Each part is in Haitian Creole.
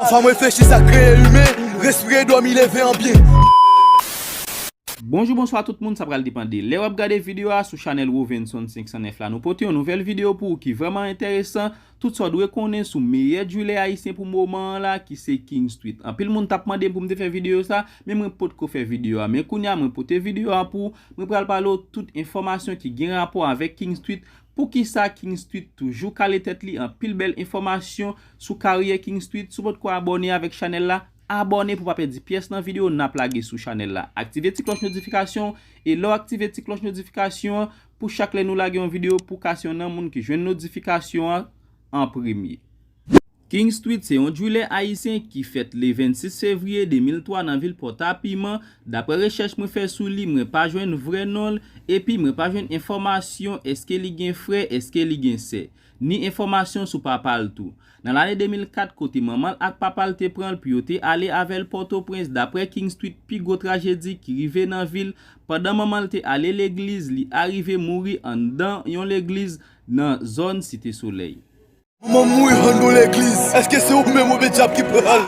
Fanm reflechi sa kreye imen. Respire domi leve an byen. Bonjou bonswa tout moun sa pral depande lè wap gade video a sou chanèl Rovenson 509 la nou pote yon nouvèl video pou ou ki vrèman entèresan tout sa w dwe konnen sou meyè driller ayisyen pou moman an la ki se King Street anpil moun tap mande m pou m te fè video sa men mwen potko fè video a men kounya mwen pote video a pou ou mwen pral pale w tout enfòmasyon ki gen rapò avèk King Street Poukisa King Street toujou kale tèt li anpil bèl enfòmasyon sou karyè King Street si w potko abòne avèk chanèl la abòne pou w pa pèdi pyès nan videyo nap lage sou chanèl la aktive ti klòch notifikasyon e lè w aktive ti klòch notifikasyon an pou chak lè nou lage yon videyo pou w ka se yon nan moun ki jwenn notifikasyon an an premye. King Street se yon drilè ayisyen ki fèt le 26 fevriye 2003 nan vil Pòtapiman, daprè rechèch mwen fè sou li mwen pa jwenn vrè non l, epi mwen pa jwenn enfòmasyon eske li gen frè eske li gen sè, ni enfòmasyon sou papa l tou. Nan lane 2004 kote manman l ak papa l te pran l pou yo te ale avè l Pòtoprens daprè King Street pi gwo trajedi ki rive nan vi l pandan manman l te ale legliz li arive mouri anndan yon legliz nan zòn Site Solèy. Manman m mouri an nou legliz. Eske se ou menm oubyen dyab ki pral.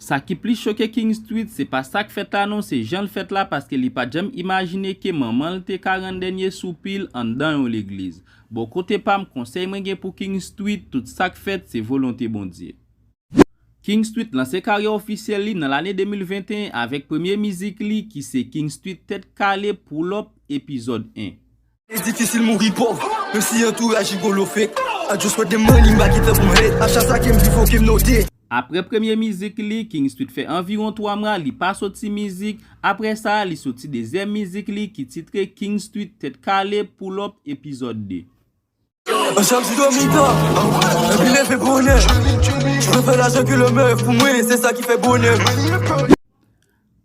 Sa ki plis choke King Street se pa sak fèt la non se janl fèt la paske li pat janm imajine ke manmanl te ka rann dènye soupil anndan yon legliz. Bon kote pam konsèy mwen gen pou King Street tout sak fèt se volonte Bondye. King Street lanse karyè ofisyèl li nan lane 2021 avèk premye mizik li ki se King Street Tèt Kale Pull Up Epizòd 1. Li difisil mouri pòv menm si antouraj jigolo fake I just want the money mpa gen tan pou m hate a chak sa kem viv ok m note. Aprè premye mizik li, King Street fè anviwon 3 mwa li pa soti mizik, aprè sa li soti dezyèm mizik li ki titre King Street Tèt Kale, Pull Up, Epizòd 2.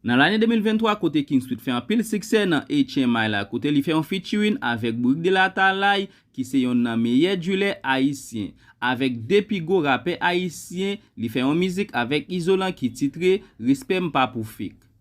Nan lane 2023 kote King Sweet fè anpil siksè nan HMI la kote li fè yon featuring avèk Bourik de la Talaï ki se yonn nan meyè djilè ayisyen. Avèk 2 pi gwo rapè ayisyen li fè yon mizik avèk Izolan ki titre Respè m pa pou fake.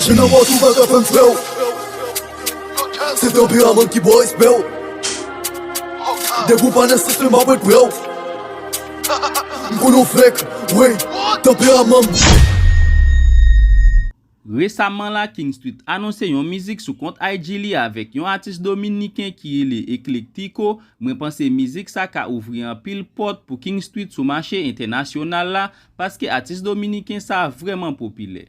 Chen nan bòt ou pa ka fèm fèw Se tanpri a moun ki bo respèw Depi ou pa nan sistèm map ret prèw M konnen w fèk wey tanperaman m. Resaman la King Street anonse yon mizik sou kont IG li avèk yon atis dominiken ki rele Eclectico, mwen panse mizik sa ka ouvri anpil pòt pou King Street sou mache entènasyonal la paske atis dominiken sa vrèman popilè.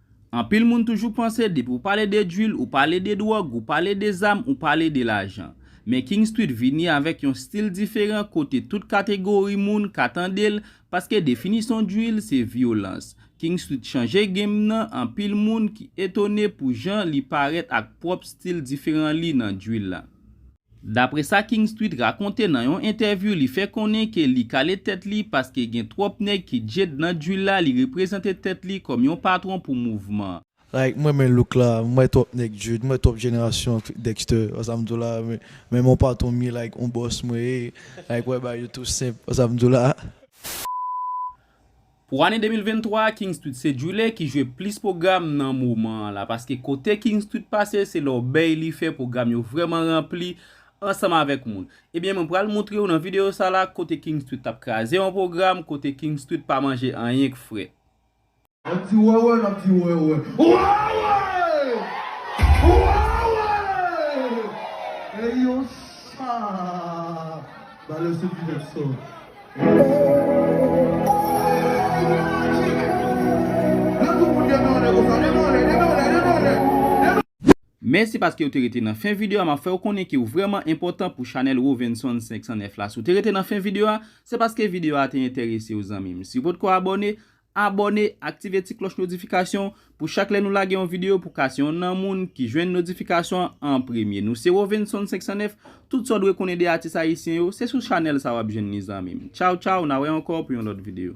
Anpil moun toujou panse depi ou pale de drill ou pale de dwòg ou pale de zam ou pale de lajan. Men King Street vini avèk yon stil diferan kote tout kategori moun ka tande l paske definisyon drill se vyolans. King Street chanje game nan anpil moun ki etone pou jan li parèt ak pwòp stil diferan li nan drill la. Dapre sa King Street rakonte nan yon entèvyou li fè konnen ke li kale tèt li paske gen twòp nèg ki djed nan drill la li reprezante tèt li kòm yon patron pou mouvman. Like m renmen look la, m wè twòp nèg djed, m wè twòp jenerasyon Dexter, wè sa m di w la, m renmen yon patron m ye like yon boss mwen ye, like wè bagay yo tou senp, wè sa m di w la. Pou ane 2023 a King Street se Djouly ki jwe plis pwogram nan moman an la paske kote King Street pase se lòbèy li fè pwogram yo vrèman ranpli ansanm avèk moun. Ebyen mwen pral moutre w nan videyo sa la kote King Street t ap kraze yon pwogram kote King Street pa manje anyen k fre. An di wèwè n ap di wèwè wèwè wèwè eyo sa. Valè se pi bèl sò. Mèsi paske ou te rete nan fen video a map fèw konnen ke ou vrèman enpòtan pou chanèl Rovenson 509 la si ou te rete nan fen video a se paske video a te entèresew zanmim si ou potko abòne Abòne, aktive ti klòch notifikasyon pou chak lè nou lage yon videyo pou ka se yon nan moun ki jwenn notifikasyon an an premye. Nou se Rovenson 509, tout sa w dwe konnen de atis ayisyen yo, se sou chanèl sa w ap jwenn li zanmi m. Tchaw tchaw, na wè ankò pou yon lòt videyo.